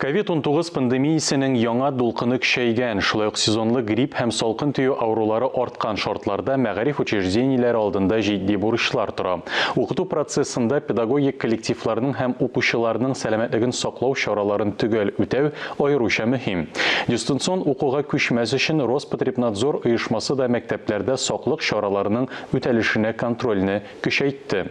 Ковид-унтугыз пандемиясенең яңа дулкыны көчәйгән, шулай ук сезонлы грипп һәм салкын тию авырулары арткан шартларда мәгариф учреждениеләре алдында җитди бурычлар тора. Укыту процессында педагогик коллективларның һәм укучыларның сәламәтлеген саклау чараларын төгәл үтәү аеруча мөһим. Дистанцион укуга күчмәс өчен Роспотребнадзор оешмасы да мәктәпләрдә саклык чараларының үтәлешенә контрольне көчәйтте.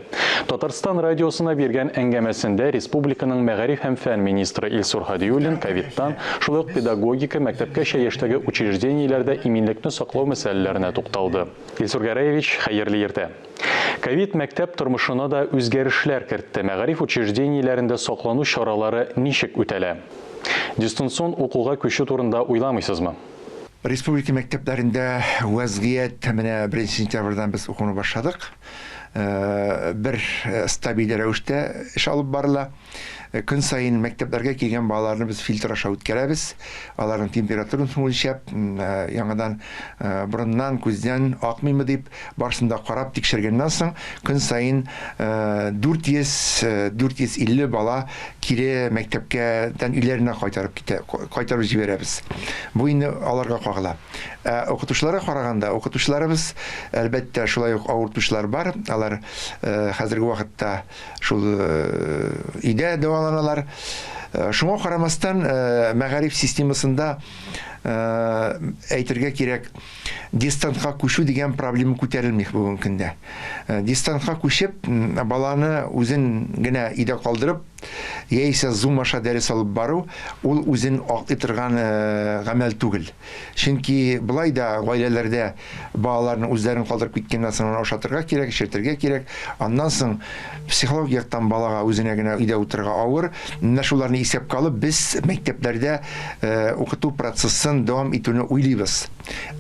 Татарстан радиосына биргән әңгәмәсендә республиканың мәгариф һәм фән министры Илсур Һадиуллин ковидтан, шулай ук педагогика, мәктәпкәчә яшьтәге учреждениеләрдә иминлекне саклау мәсьәләләренә тукталды. Илсур Гәрәевич, хәерле иртә! Ковид мәктәп тормышына да үзгәрешләр кертте. Мәгариф учреждениеләрендә саклану чаралары ничек үтәлә? Дистанцион укуга күчү турында уйламыйсызмы? Республика мәктәпләрендә вәзгыять менә беренче сентябрьдән без укуны башладык. Бер стабиль рәвештә эш алып барыла. Көн саен мәктәпләргә килгән балаларны без фильтр аша үткәрәбез. Аларның температурасын үлчәп, яңадан борыннан, күздән акмыймы дип, Барсын да карап тикшергәннән соң, көн саен 400-450 бала кире мәктәпкә тән өйләренә кайтарып китә, кайтарып җибәрәбез. Бу инде аларга кагыла. Ә укытучыларга караганда, укытучыларыбыз, әлбәттә, шулай ук авыртучылар бар, алар хәзерге вакытта шул өйдә дәваланалар. Шуңа карамастан, мәгариф системасында әйтергә кирәк, Дистантка күчү дигән проблема күтәрелми бүгенге көндә. Дистантка күчеп, баланы үзен генә өйдә калдырып, яисә Zoom аша дәрес алып бару, ул үзен аклый торган гамәл түгел. Чөнки болай да гаиләләрдә балаларны үзләрен калдырып киткәннән соң аны ашатырга кирәк, эчертергә кирәк. Аннан соң Психологик яктан балага үзенә генә өйдә утырырга авыр. Менә шуларны исәпкә алып, без мәктәпләрдә укыту процессын дәвам итүне уйлыйбыз.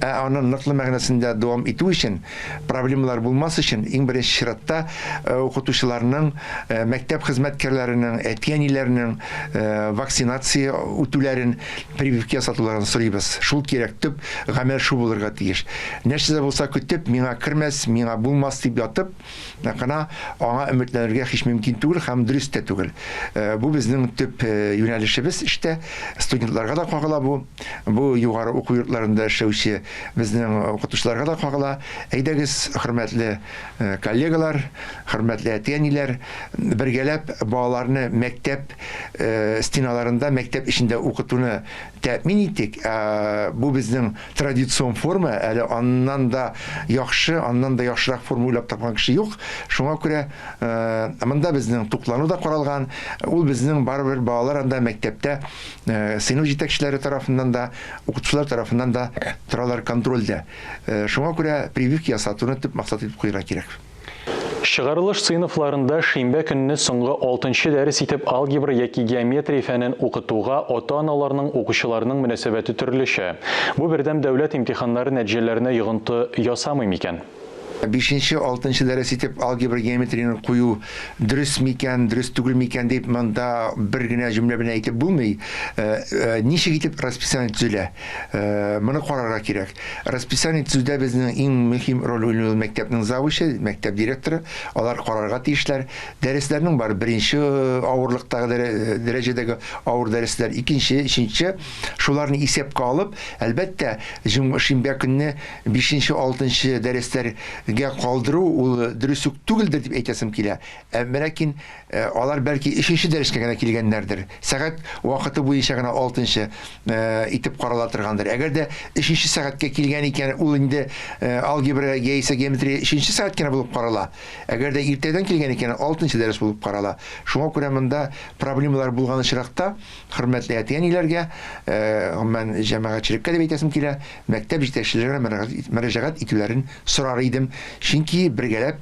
Ә аны ныклы мәгънәсендә дәвам итү өчен, проблемалар булмас өчен, иң беренче чиратта, укытучыларның, мәктәп хезмәткәрләренең, әти-әниләрнең вакцинация үтүләрен, прививка ясатуларын сорыйбыз. Шул кирәк, төп гамәл шул булырга тиеш. Нәрсә дә булса көтеп, миңа кермәс, миңа булмас дип ятып, Ә кына аңа өметләнергә һич мөмкин түгел һәм дөрес тә түгел. Э, бу безнең төп э, юнәлешебез эштә. Студентларга да кагыла бу. Бу югары уку йортларында эшләүче безнең укытучыларга да кагыла. Әйдәгез, хөрмәтле э, коллегалар, хөрмәтле әти-әниләр, бергәләп балаларны мәктәп стеналарында, мәктәп эчендә укытуны Тәэмин иттек. Бу безнең традицион форма, әле аннан да яхшы, аннан да яхшырак форма уйлап тапкан кеше юк. Шуңа күрә монда безнең туклану да каралган. Ул безнең барыбер балалар анда мәктәптә сыйныф җитәкчеләре тарафыннан да, укытучылар тарафыннан да торалар контрольдә. Шуңа күрә прививка ясатуны төп максат итеп куярга кирәк. Чыгарылыш сыйныфларында шимбә көнне соңгы алтынчы дәрес итеп алгебра яки геометрия фәнен укытуга ата-аналарның, укучыларның мөнәсәбәте төрлечә. Бу бердәм дәүләт имтиханнары нәтиҗәләренә йогынты ясамый микән? Бишенче, алтынчы дәрес итеп алгебра, геометрияне кую дөрес микән, дөрес түгел микән дип монда бер генә җөмлә белән әйтеп булмый. Ничек итеп расписание төзелә? Моны карарга кирәк. Расписание төзүдә безнең иң мөһим роль уйный ул мәктәпнең завучы, мәктәп директоры. Алар карарга тиешләр. Дәресләрнең бар беренче авырлыктагы дәрәҗәдәге авыр дәресләр, икенче, өченче. Шуларны исәпкә алып, әлбәттә, шимбә көнне бишенче, алтынчы дәресләргә калдыру ул дөрес үк түгелдер дип әйтәсем килә. Ә ләкин Алар, бәлки, өченче дәрескә генә килгәннәрдер, сәгать вакыты буенча гына алтынчы итеп карала торгандыр. Әгәр дә өченче сәгатькә килгән икән, ул инде алгебра яисә геометрия өченче сәгать кенә булып карала. Әгәр дә иртәдән килгән икән, алтынчы дәрес булып карала. Шуңа күрә монда проблемалар булган очракта, хөрмәтле әти-әниләргә, гомумән, җәмәгатьчелеккә дип әйтәсем килә, мәктәп җитәкчеләренә мөрәҗәгать итүләрен сорар идем. Чөнки бергәләп